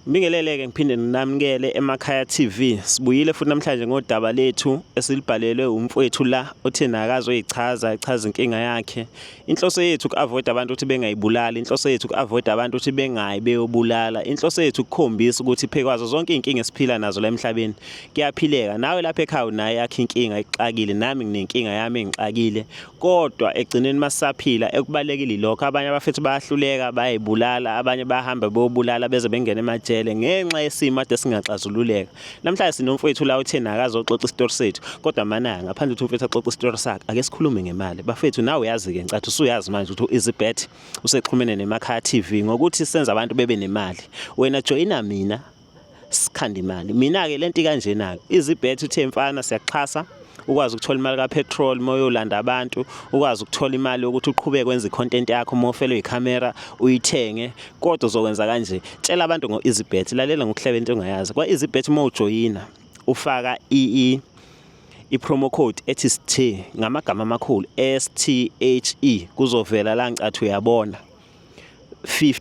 Ngibingelele-ke ngiphinde nginamukele eMakhaya TV. Sibuyile futhi namhlanje ngodaba lethu esilibhalelwe umfowethu la othe nakazoyichaza echaza inkinga yakhe. Inhloso yethu ku-avoid abantu ukuthi bengayibulali, inhloso yethu ku-avoid abantu ukuthi bengayi beyobulala. Inhloso yethu kukhombisa ukuthi phekwazo zonke izinkinga esiphila nazo la emhlabeni kuyaphileka. Nawe lapha ekhaya unayo yakhe inkinga ikuxakile, nami nginenkinga yami engixakile. kodwa egcineni masaphila ekubalekile lokho abanye abafethu bayahluleka bayibulala abanye bahamba bobulala beze bengena emajele ngenxa yesimo ade singaxazululeka namhlanje sinomfowethu la uthena akazoxoxa isitori sethu kodwa manaya ngaphandle ukuthi umfethu axoxe isitori sakhe ake sikhulume ngemali bafethu nawe uyazi ke ncathi usuyazi manje ukuthi izibet usexhumene nemakha TV ngokuthi senza abantu bebe nemali wena joyina mina sikhanda imali mina-ke le nto ikanjena-ke izibhethe uthe mfana siyakuxhasa ukwazi ukuthola imali kapetrol uma uyolanda abantu ukwazi ukuthola imali yokuthi uqhubeke kwenza icontent yakho uma ufelwe ikhamera uyithenge kodwa uzokwenza kanje tshela abantu ngo-easybet lalela ngokuhleba into ongayazi kwa-easybet uma ujoyina ufaka i i-promo code ethi sthe ngamagama amakhulu s t h e kuzovela la ngicathu uyabona 50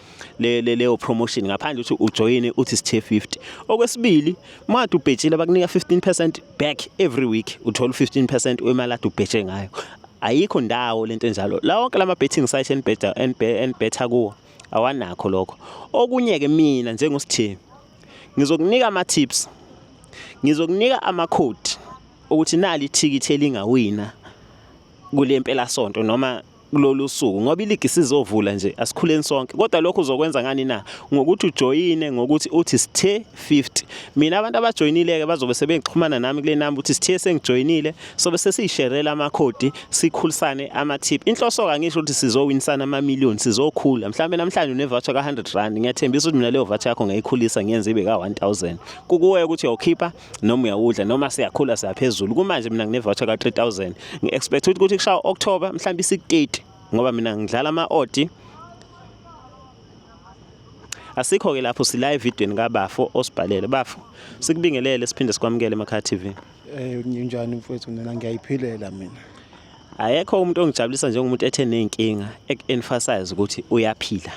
le leyo promotion ngaphandle ukuthi ujoyine uthi sithe 50 okwesibili madu ubhetshile bakunika 15% back every week uthola 15% wemali adu ubhetshe ngayo ayikho ndawo lento enjalo la wonke lama betting site enibheda enibhetha kuwo awanakho lokho okunye ke mina njengosithembi ngizokunika ama tips ngizokunika ama code ukuthi nali ithikithi elingawina kule mpelasonto noma kulolu suku ngoba iligi sizovula nje asikhuleni sonke kodwa lokho uzokwenza ngani na ngokuthi ujoyine ngokuthi uthi sithe 50 mina abantu abajoyinileke bazobe sebengixhumana nami kule number uthi sithe sengijoyinile sobe sesiyisherela amakhodi sikhulisane amathip inhloso ka ngisho ukuthi sizowinisana ama million sizokhula mhlawumbe namhlanje une voucher ka 100 rand ngiyathembisa ukuthi mina leyo voucher yakho ngayikhulisa ngiyenze ibe ka 1000 kukuwe ukuthi uyokhipha noma uyawudla noma siyakhula siyaphezulu kumanje mina ngine voucher ka 3000 ngi expect ukuthi kushaya October mhlawumbe isi 30 ngoba mina ngidlala ama odd asikho ke lapho sila evidweni kabafo osibhalele bafo sikubingelele siphinde sikwamukele emakha TV eh njani mfowethu mina ngiyayiphilela mina ayekho umuntu ongijabulisa njengomuntu ethe nezinkinga emphasize ukuthi uyaphila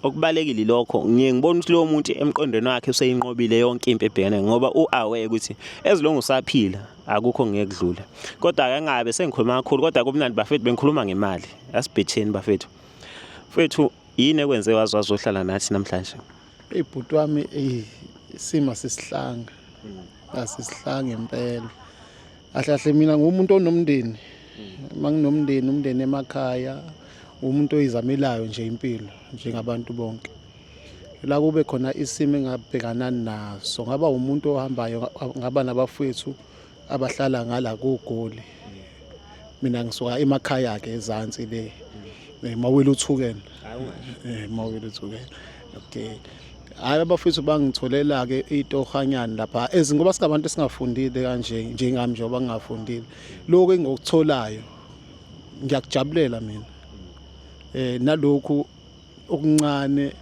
okubalekile lokho ngiye ngibona ukuthi lowo muntu emqondweni wakhe useyinqobile yonke impi ebhekene ngoba u-aware ukuthi ezilongo usaphila akukho ngekudlula kodwa ake ngabe sengikhuluma kakhulu kodwa kumnandi bafethu bengikhuluma ngemali asibhetheni bafethu mfethu yini ekwenze wazi wazohlala nathi namhlanje Eyi bhuti wami eyi isima sisihlanga asisihlanga impela ahle ahle mina ngumuntu onomndeni uma nginomndeni umndeni emakhaya umuntu oyizamelayo nje impilo njengabantu bonke la kube khona isimo engabhekana naso ngaba umuntu ohambayo ngaba nabafowethu abahlala ngala kugoli mina ngisuka emakhaya ke ezansi le eh, mawile uthukene eh, mawile uthukene okay hayi abafethu bangitholela ke itohanyana lapha ezingoba singabantu esingafundile kanje njengami njengoba ngingafundile lokho engikutholayo ngiyakujabulela mina eh nalokhu okuncane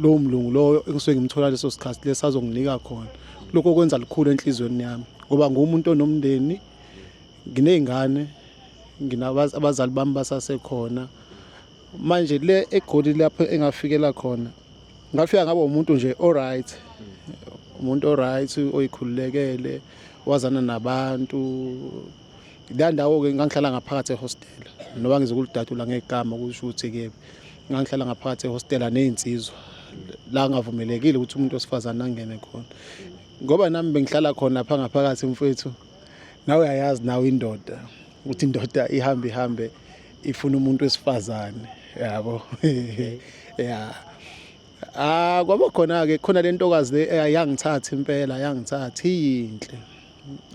lowo mlungu loyo engisuke ngimthola leso sikhathi lesi azonginika khona lokho kwenza likhulu enhliziyweni yami ngoba ngumuntu onomndeni nginey'ngane abazali bami basasekhona manje le egoli lapho engafikela khona ngafika ngaba umuntu nje oright umuntu oright oyikhululekele wazana nabantu la ndawo-ke ngangihlala ngaphakathi ehostela noba ngizokuludatula ngegama kusho ukuthi-ke ngangihlala ngaphakathi ehostela ney'nsizwa la ngavumelekile ukuthi umuntu wesifazane angene khona ngoba nami bengihlala khona pha ngaphakathi mfethu nawe uyayazi nawe indoda ukuthi indoda ihambe ihambe ifuna umuntu wesifazane yabo ya ah kwaba khona-ke khona le ntokazi le eyangithatha impela yangithatha iyinhle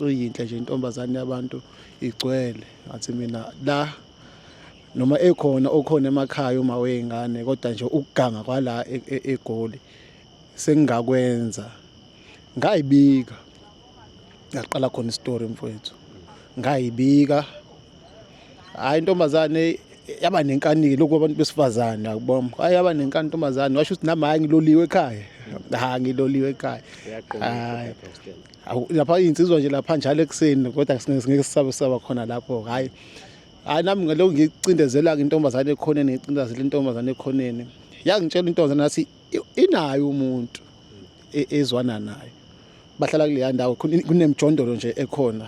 uyinhle nje intombazane yabantu igcwele ngathi mina la noma ekhona okhona emakhaya uma weyingane kodwa nje ukuganga kwala e-, e-, egoli sengingakwenza ngayibika ngaqala khona isitori mfowethu ngayibika hayi intombazane yaba nenkanike lokhu abantu besifazane akubom hayi yaba nenkani intombazane washo ukuthi nami hayi ngiloliwe ekhaya ha ngiloliwe ekhaya hayi lapha iy'nsizwa nje lapha njalo ekuseni kodwa singeke sisabe sisaba khona lapho hhayi hhayi nami ngalokhu ngicindezela-ke intombazane ekhoneni ngicindezela intombazane ekhoneni yangitshela intombazane nathi inayo umuntu e-, ezwana nayo bahlala kuleya ndawo kunemjondolo nje ekhona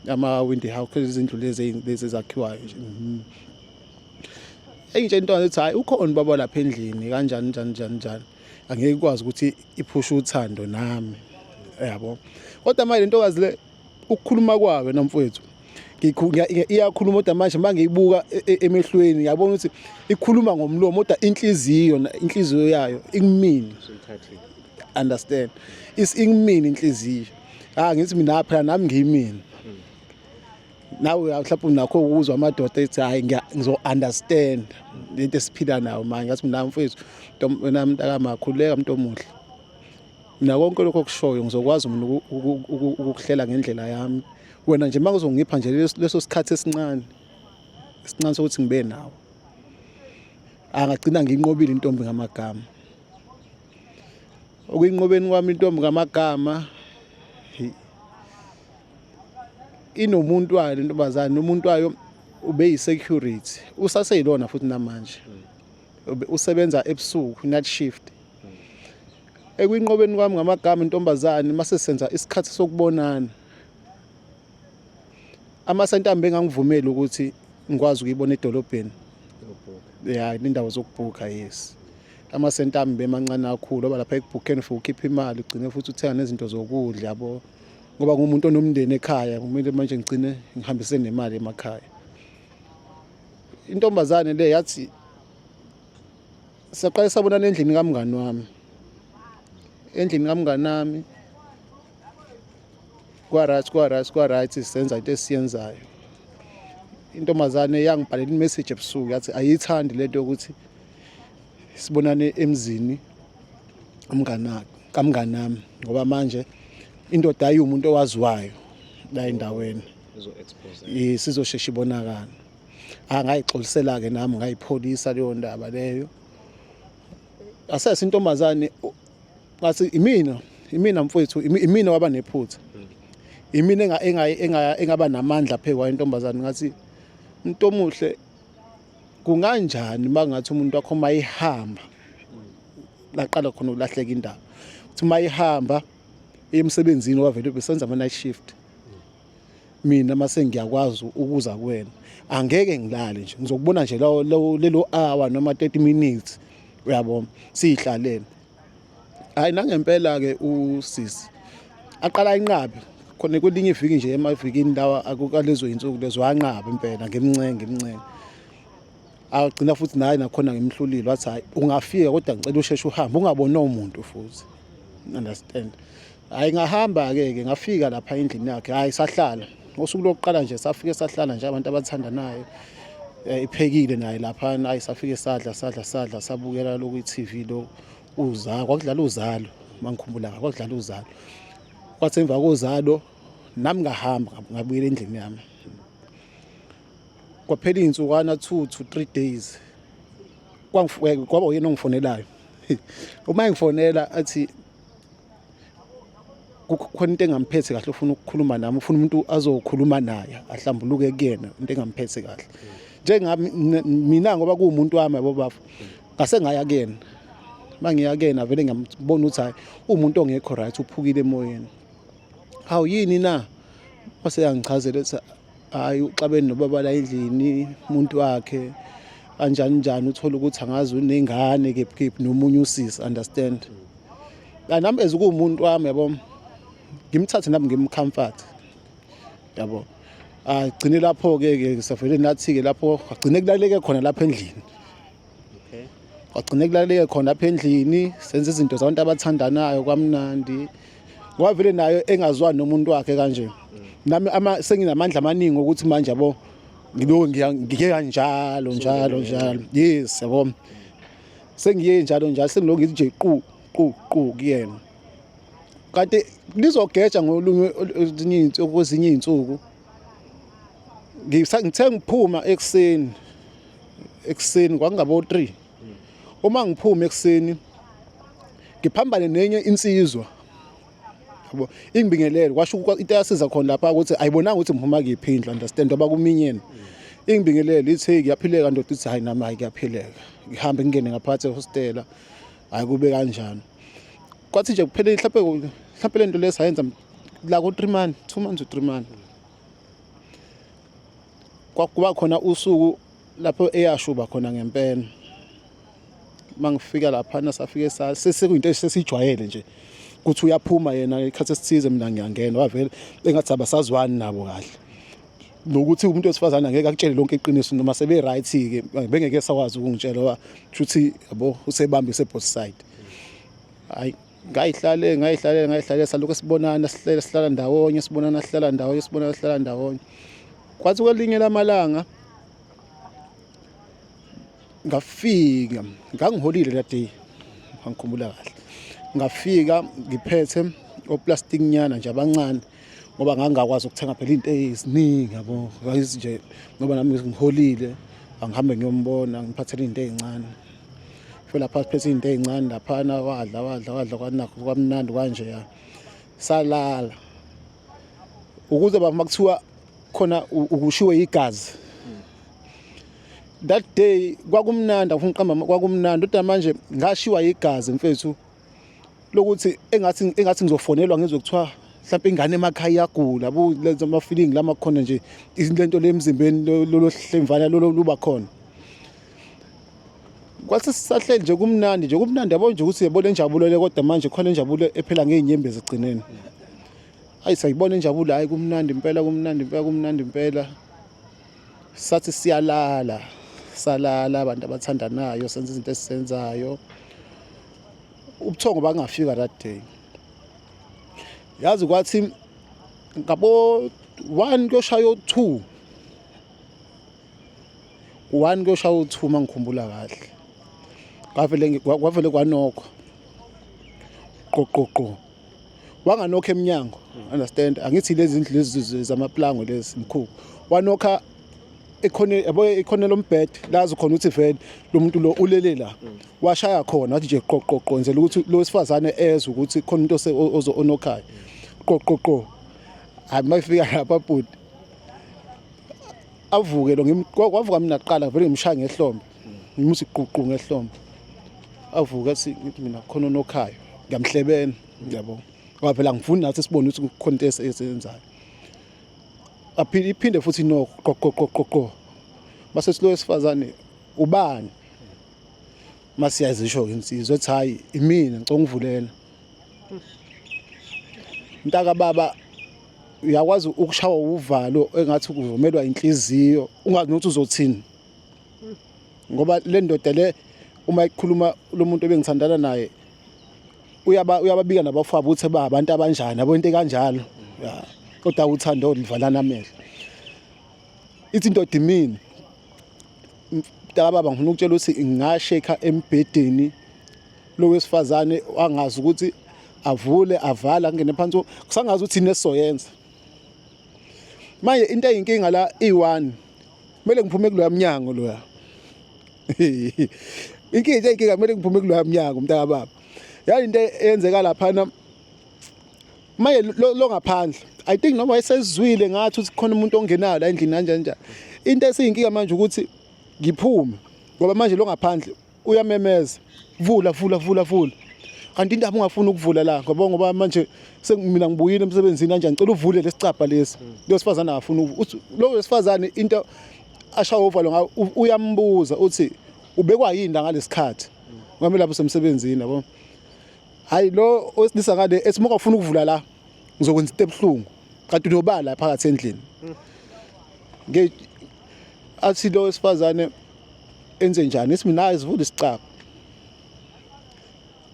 ama-windy house izindlu lezi lezi ezakhiwayo nje mhm. engitshela intombazane ukuthi hhayi ukhona ubaba lapha endlini kanjani njani njani njani angeke ikwazi ukuthi iphushe uthando nami yabo kodwa manje lentokazi le ukukhuluma kwayo namfowethu iyakhuluma kodwa manje uma ngiyibuka e, e, emehlweni ngiyabona ukuthi ikhuluma ngomlomo kodwa inhliziyo inhliziyo yayo ikumini understand is ingimini inhliziyo ah ngithi mina phela nami ngiyimini nawe mhlawumbe unakho ukuzwa amadoda ethi hhayi ngizo-understand le nto esiphila nayo manje ngathi mina mfethu wena mntakamakhululeka mntu omuhle mina konke lokho okushoyo ngizokwazi mina ukukuhlela ngendlela yami wena nje uma kuzongipha nje leso sikhathi esincane esincane sokuthi ngibe nawe angagcina ngiyinqobile intombi ngamagama okuyinqobeni kwami intombi ngamagama inomuntu wayo le ntombazane nomuntu wayo ubeyisecurity usaseyilona futhi namanje usebenza ebusuku night shift ekwinqobeni kwami ngamagama intombazane mase senza isikhathi sokubonana amasentamba engangivumeli ukuthi ngikwazi ukuyibona edolobheni ya indawo zokubhukha yes amasentamba emancane kakhulu oba lapha ekubhukheni for ukhipha imali ugcine futhi uthenga nezinto zokudla yabo ngoba ngumuntu onomndeni ekhaya kumele manje ngigcine ngihambise nemali emakhaya intombazane le yathi saqale sabonana endlini kamngani wami endlini kamngani nami kwa-right kwa-right kwa-right senza into esiyenzayo intombazane yangibhalela imessage ebusuku yathi ayiyithandi lento yokuthi sibonane emzini umngana kamnganami ngoba manje indoda ayi umuntu owaziwayo la endaweni sizoshesha ibonakala angayixolisela-ke nami ngayipholisa leyo ndaba leyo asese intombazane ngathi imina imina mfowethu imina waba nephutha mm. imina engaba namandla phezu kwayo intombazane ngathi umuntu omuhle kunganjani uma ngathi umuntu wakho uma ihamba laqala khona ukulahleka indaba ukuthi uma ihamba emsebenzini wavele besenza ama-night shift mina uma sengiyakwazi ukuza kuwena angeke ngilale nje ngizokubona nje lelo hour noma 30 minutes uyabona siyihlalele hayi nangempela-ke usisi aqala inqabe khona kwelinye iviki nje emavikini lawa akukalezo yinsuku lezo wanqaba impela ngimncenge ngimncenge agcina futhi naye nakhona ngimhlulile wathi hayi ungafika kodwa ngicela usheshe uhambe ungabonwa umuntu futhi understand hayi ngahamba-ke ke ngafika lapha endlini yakhe hhayi sahlala ngosuku lokuqala nje safike sahlala nje abantu abathandanayo eh, iphekile naye laphana ayi safike sadla sadla sadla sabukela lokhu i-tv lo uzalo kwakudlala uzalo mangikhumbulanga kwakudlala uzalo kwathi emva kozalo nami ngahamba ngabuyela endlini yami kwaphela iy'nsukwana two to three days eh, kwaba uyena ongifonelayo uma engifonela athi kukhona into engamphethe kahle ufuna ukukhuluma nami ufuna umuntu azokhuluma naye ahlambuluke kuyena into engamphethe kahle njengami mina ngoba kuwumuntu wami yabo bafo ngase ngaya kuyena mangiya kuyena vele ngiyambona ukuthi hayi umuntu ongekho right uphukile emoyeni hawu yini na waseyangichazela hhayi uxabene nobaba la endlini umuntu wakhe kanjani njani uthole ukuthi angazi unengane kephi kephi nomunye usisi understand la nami as kuwumuntu wami yabo ngimthathe nami ngimcomfort yabo agcine lapho-ke ke safele nathi-ke lapho agcine kulaleke khona lapha endlini kwagcine kulaleke khona apha endlini senza izinto zabantu abathandanayo kwamnandi kwavele nayo engazwani nomuntu wakhe kanje nami ama senginamandla amaningi ukuthi manje yabo ngiloku ngike kanjalo njalo njalo yes yabo sengiye njalo njalo sengiloku ngithi nje qu qu qu kuyena kanti lizogeja ngolunye okwezinye izinsuku ngithe ngiphuma ekuseni ekuseni kwakungabo 3 uma ngiphuma ekuseni ngiphambane nenye insizwa yabo ingibingelele kwasho into yasiza khona lapha ukuthi ayibonanga ukuthi ngiphuma kiphi indlu understand oba kuminyeni ingibingelele ithi ngiyaphileka ndoda ithi hayi nami hayi ngiyaphileka ngihambe ngingene ngaphakathi ehostela hayi kube kanjani kwathi nje kuphele mhlawumbe mhlawumbe lento lesayenza la ku-three month two months to three month kwakuba khona usuku lapho eyashuba khona ngempela uma ngifika laphana safike sesekuyinto esesijwayele nje ukuthi uyaphuma yena ikhathi esithize mina ngiyangena wavele engathi abasazwani nabo kahle nokuthi umuntu wesifazane angeke akutshele lonke iqiniso noma sebe right ke bengeke sakwazi ukungitshela ukuthi yabo usebambise both side hayi ngayihlale ngayihlale ngayihlale salokhu sibonana sihlele sihlala ndawonye sibonana sihlala ndawonye sibonana sihlala ndawonye kwathi kwelinye lamalanga ngafika ngangiholile that day ngangikhumbula kahle ngafika ngiphethe oplastic nyana nje abancane ngoba ngangakwazi ukuthenga phela into eziningi yabo nje ngoba nami ngiholile angihambe ngiyombona ngiphathele into ezincane fela phansi phethe izinto ezincane laphana wadla wadla wadla kwanakho kwamnandi kanje ya salala ukuze baba makuthiwa khona ukushiwe igazi that day kwakumnandi afunqamba kwakumnandi kodwa manje ngashiwa igazi mfethu lokuthi engathi engathi ngizofonelwa ngizwe kuthiwa mhlawumbe ingane emakhaya iyagula bu lenza ama feeling lama khona nje izinto le emzimbeni lolo hlemvana lolo luba khona kwathi sisahleli nje kumnandi nje kumnandi yabo nje ukuthi yebo lenjabulo le kodwa manje khona injabulo ephela ngeenyembezi egcineni ayi sayibona injabulo hayi kumnandi impela kumnandi impela kumnandi impela sathi siyalala salala abantu abathandanayo senza izinto esizenzayo ubuthongo bangafika that day yazi kwathi ngabo 1 kuyoshaya u2 1 kuyoshaya u2 mangikhumbula kahle kwavele kwavele kwanokho qoqoqo wanganokha emnyango understand angithi lezi ndlu lezi zamaplango lezi mkhulu wanokha ekhone yabo ekhone lombed lazi khona ukuthi vele lo muntu lo ulele la washaya khona wathi nje qoqoqo nzela ukuthi lo wesifazane ezwe ukuthi khona umuntu ozo onokhaya qoqoqo hayi mayifika lapha bhuti avuke lo ngimqoka wavuka mina kuqala vele ngimshaya ngehlombe ngimuthi ququ ngehlombe avuka athi mina khona onokhayo ngiyamhlebela yabo ngoba phela ngifuni nathi sibone ukuthi kukhona into eseyenzayo aphinde iphinde futhi no qoqoqoqoqo base silo esifazane ubani masiyazisho ke insizwe ethi hayi imina ngicela ungivulela mntaka baba uyakwazi ukushawa uvalo engathi kuzomelwa inhliziyo ungazi ukuthi uzothini ngoba le ndoda le uma ikhuluma lo muntu ebengithandana naye uyaba uyababika nabafabo ukuthi ba abantu abanjani abo into kanjalo kodwa uthando livalana amehlo ithi into dimini mntaka baba ngifuna ukutshela ukuthi ngashekha embhedeni lo wesifazane wangazi ukuthi avule avala kungene phansi kusangazi ukuthi inesoyenza manje into eyinkinga la i1 kumele ngiphume kuloya mnyango loya inkinga into eyinkinga kumele ngiphume kuloya mnyango mntaka baba yani into eyenzeka lapha na manje lo ngaphandle i think noma esezwile ngathi ukuthi khona umuntu ongenayo la endlini kanjani njani into esiyinkinga manje ukuthi ngiphume ngoba manje lo ngaphandle uyamemeza vula vula vula vula kanti indaba ungafuni ukuvula la ngoba ngoba manje sengimina ngibuyile emsebenzini kanje ngicela uvule lesicabha lesi hmm. lo sifazane afuna ukuthi lo wesifazane into asha ovalo ngayo uyambuza uthi ubekwa yini la ngalesikhathi hmm. ngoba lapho semsebenzini yabo hayi lo osilisa kade ethi uma ufuna ukuvula la ngizokwenza into ebuhlungu kanti uyobala phakathi endlini hmm. athi lo wesifazane enze njani ethi mina sivule isicaba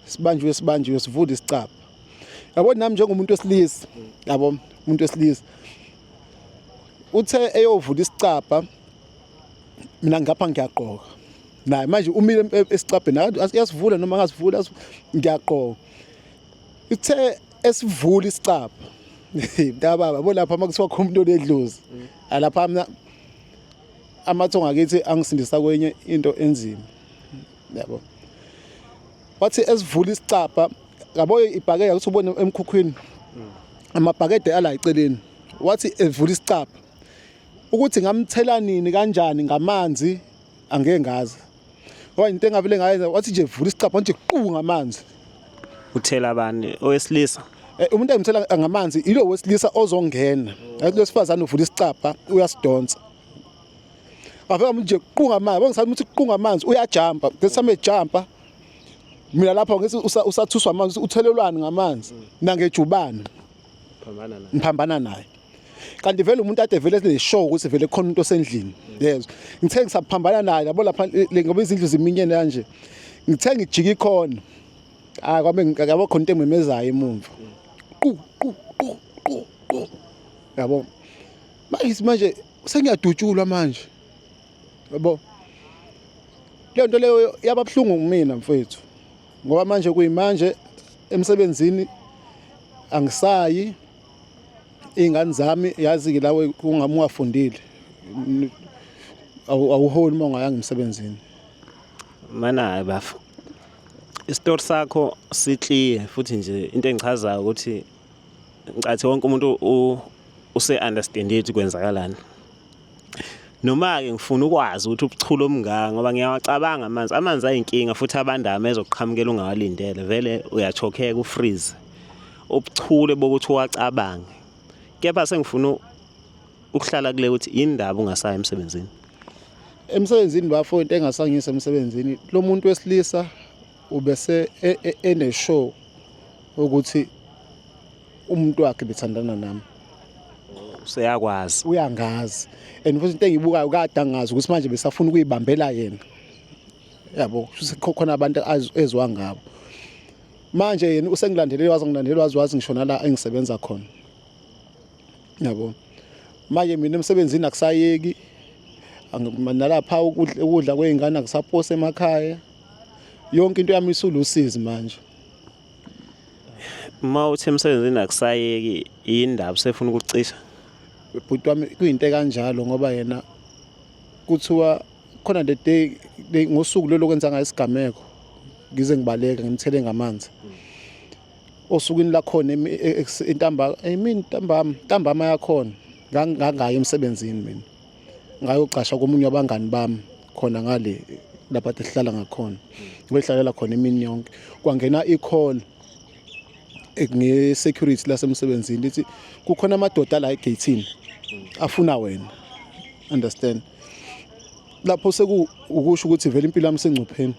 sibanjiwe sibanjiwe sivule isicaba yabo nami njengomuntu wesilisa yabo umuntu wesilisa uthe eyovula isicaba mina ngapha ngiyaqoka naye manje umile esicabheni asiyasivula noma ngasivula ngiyaqoka ithe esivula isicaba mntababa bo lapha makuthiwa khona umuntu onedlozi alapha mina amathongo akithi angisindisa kwenye into enzima yabo wathi esivula isicabha yabo ibhakede ukuthi ubone emkhukhwini amabhakede ala eceleni wathi evula isicabha ukuthi ngamthela nini kanjani ngamanzi angeke ngazi Owa into engavele ngayenza wathi nje vula isicapha nje qu ngamanzi. Uthela bani owesilisa? Eh, umuntu engimthela ngamanzi ilo wesilisa ozongena. Yathi losifazane uvula isicapha uyasidonsa. Wafika umuntu nje qu ngamanzi, bengisathi umuntu qu ngamanzi uyajumpa. Ngesame jumpa. Mina lapho ngisi usathuswa amanzi uthelelwani ngamanzi nangejubane. Phambana naye. Ngiphambana naye. kanti vele umuntu ade vele sineshow ukuthi vele khona umuntu osendlini yezwa ngithe ngisaphambana naye labo lapha ngoba izindlu ziminyene kanje ngithe ngijika ikhona ah kwabe ngiyabo khona into engimemezayo emumva qu qu qu qu qu yabo manje manje sengiyadutshulwa manje yabo leyo nto leyo yababuhlungu kumina mfethu ngoba manje kuyimanje emsebenzini angisayi iy'ngane zami yazi-ke lawe kungami ungafundile awuholi uma ungayanga emsebenzini mana hayi bafo isitori sakho siclear futhi nje into engichazayo ukuthi ngicathi wonke umuntu use-understandile ukuthi kwenzakalani Noma-ke ngifuna ukwazi ukuthi ubuchule omngaka ngoba ngiyawacabanga amanzi. Amanzi ayinkinga futhi abandama ezokuqhamukela ungawalindele. Vele uyachokheka ufreeze. Ubuchule bokuthi uwacabange. Kepha sengifuna ukuhlala kule ukuthi yini ndaba ungasayi emsebenzini. Emsebenzini bafo into engasangisa emsebenzini lo muntu wesilisa Ubese e, e, eneshow ukuthi umuntu wakhe bethandana nami. Useyakwazi. Uyangazi. And futhi into engibukayo kade angazi ukuthi manje besafuna ukuyibambela yena. Yabo, khona abantu ezwa ngabo. Manje yena usengilandelele wazi ngilandelele wazi wazi ngishona la engisebenza khona. Yabo. Manje mina emsebenzini akusayeki nalapha ukudla kwey'ngane akusaphose emakhaya yonke into yami isulusizi manje uma uthi emsebenzini akusayeki indaba sefuna ukucisha bhuti wami kuyinto kanjalo ngoba yena kuthiwa khona the day ngosuku lelo kwenza ngayo isigameko ngize ngibaleka ngimthele ngamanzi osukwini lakhona entambama entambama yakhona ngangayo emsebenzini mina ngayocasha komunye wabangani bami khona ngale lapha sihlala ngakhona ngihlalela khona imini yonke kwangena i-call nge-security lasemsebenzini lithi kukhona amadoda la egeyithini afuna wena understand lapho sekuwukusho ukuthi vele impilo yami isengcupheni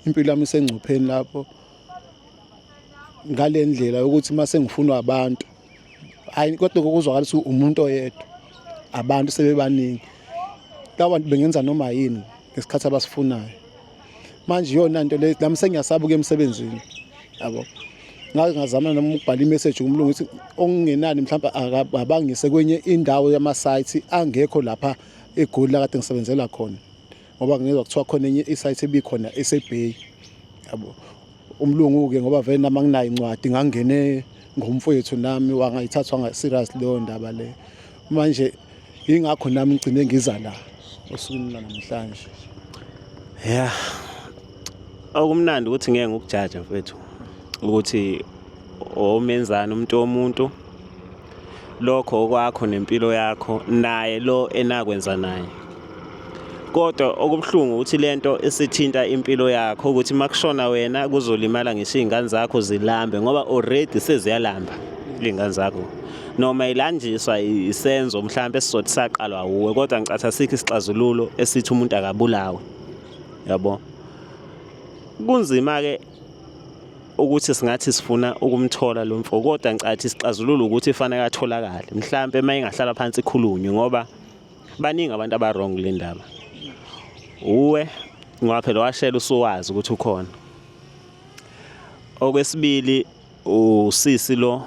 impilo yami isengcupheni lapho ngale ndlela yokuthi uma sengifunwa abantu hayi kodwa kokuzwakalisa umuntu oyedwa abantu sebebaningi labantu bengenza noma yini ngesikhathi abasifunayo manje iyona nto le nami sengiyasaba ukuya emsebenzini yabo ngake ngazama noma ukubhala imessage kumlungu ukuthi okungenani mhlawumbe akabangise kwenye indawo yama-site angekho lapha egoli lakade ngisebenzela khona ngoba ngizwa kuthiwa khona enye isite ebikhona esebay yabo umlungu-ke ngoba vele nami anginayo incwadi ngangene ngomfowethu nami wangayithathwa nga-serious leyo ndaba leyo manje yingakho nami ngigcine ngiza la osukwini lanamhlanje ya yeah. Okumnandi ukuthi ngeke ngikujaje mfethu ukuthi omenzani umuntu womuntu lokho okwakho nempilo yakho naye lo enakwenza naye kodwa okubuhlungu ukuthi lento isithinta impilo yakho ukuthi makushona wena kuzolimala ngisho izingane zakho zilambe ngoba already seziyalamba izingane zakho noma ilanjiswa isenzo mhlawumbe esizothi saqalwa wuwe kodwa ngicatha sikho isixazululo esithi umuntu akabulawe yabo kunzima ke ukuthi singathi sifuna ukumthola lo mfo kodwa ngicathi isixazululo ukuthi fanele atholakale mhlawumbe uma ingahlala phansi ikhulunywe ngoba baningi abantu abarong kule ndaba uwe ngoba phela washela usuwazi ukuthi ukhona okwesibili usisi lo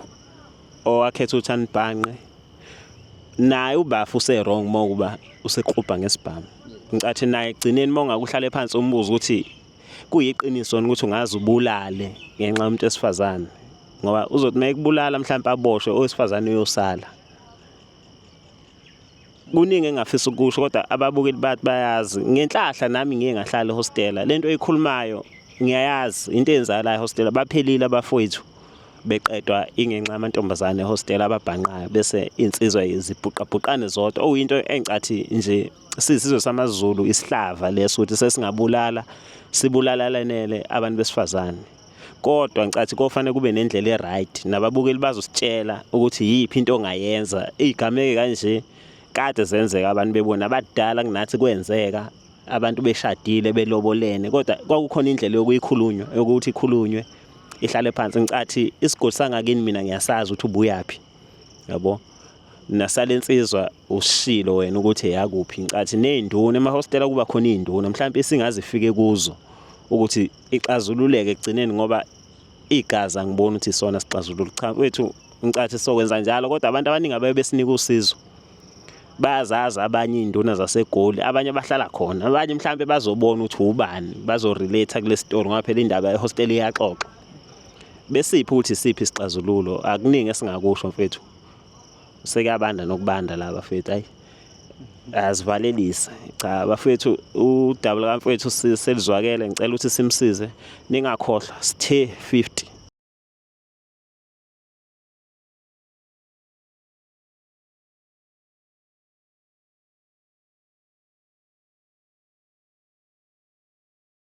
owakhetha ukuthi anibhanqe naye ubafu use wrong uma kuba usequbha ngesibhamu ngicathi naye egcineni uma ungakuhlale phansi umbuzo ukuthi kuyiqiniso ukuthi ungaze ubulale ngenxa yomuntu esifazane ngoba uzothi uma ekubulala mhlawumbe aboshwe owesifazane uyosala kuningi engingafisa ukusho kodwa ababukeli bathi bayazi ngenhlahla nami ngiye ngahlala ehostela lento eyikhulumayo ngiyayazi into eyenzayo la ehostela baphelile abafowethu beqedwa ingenxa yamantombazane ehostela ababhanqayo bese insizwa zibhuqabhuqane zodwa okuyinto engicathi nje sisizwe samaZulu isihlava leso ukuthi sesingabulala sibulalalenele abantu besifazane kodwa ngicathi kofanele kube nendlela e-right nababukeli bazositshela ukuthi yiphi into ongayenza igameke kanje kade zenzeka abantu bebona abadala kunathi kwenzeka abantu beshadile belobolene kodwa kwakukhona indlela yokuyikhulunywa yokuthi ikhulunywe ihlale phansi ngicathi isigodi sangakini mina ngiyasazi ukuthi ubuyaphi yabo nasale insizwa usishilo wena ukuthi eyakuphi incathi ney'nduna emahostela kuba khona iy'nduna mhlawumpe isingazifike kuzo ukuthi ixazululeke ekugcineni ngoba igazi angiboni ukuthi isona sixazulula cha wethu incathi sokwenza njalo kodwa abantu abaningi abaye besinika usizo bayazazi abanye iy'nduna zasegoli abanye bahlala khona abanye mhlawumpe bazobona ukuthi wubani bazorelate kule story ngoba phela indaba ehostela iyaxoxa besiphi ukuthi isiphi isixazululo akuningi esingakusho mfethu Sekuyabanda nokubanda la bafethu ayi azivalelise cha bafethu udaba likamfethu selizwakele ngicela ukuthi simsize ningakhohlwa sithe 50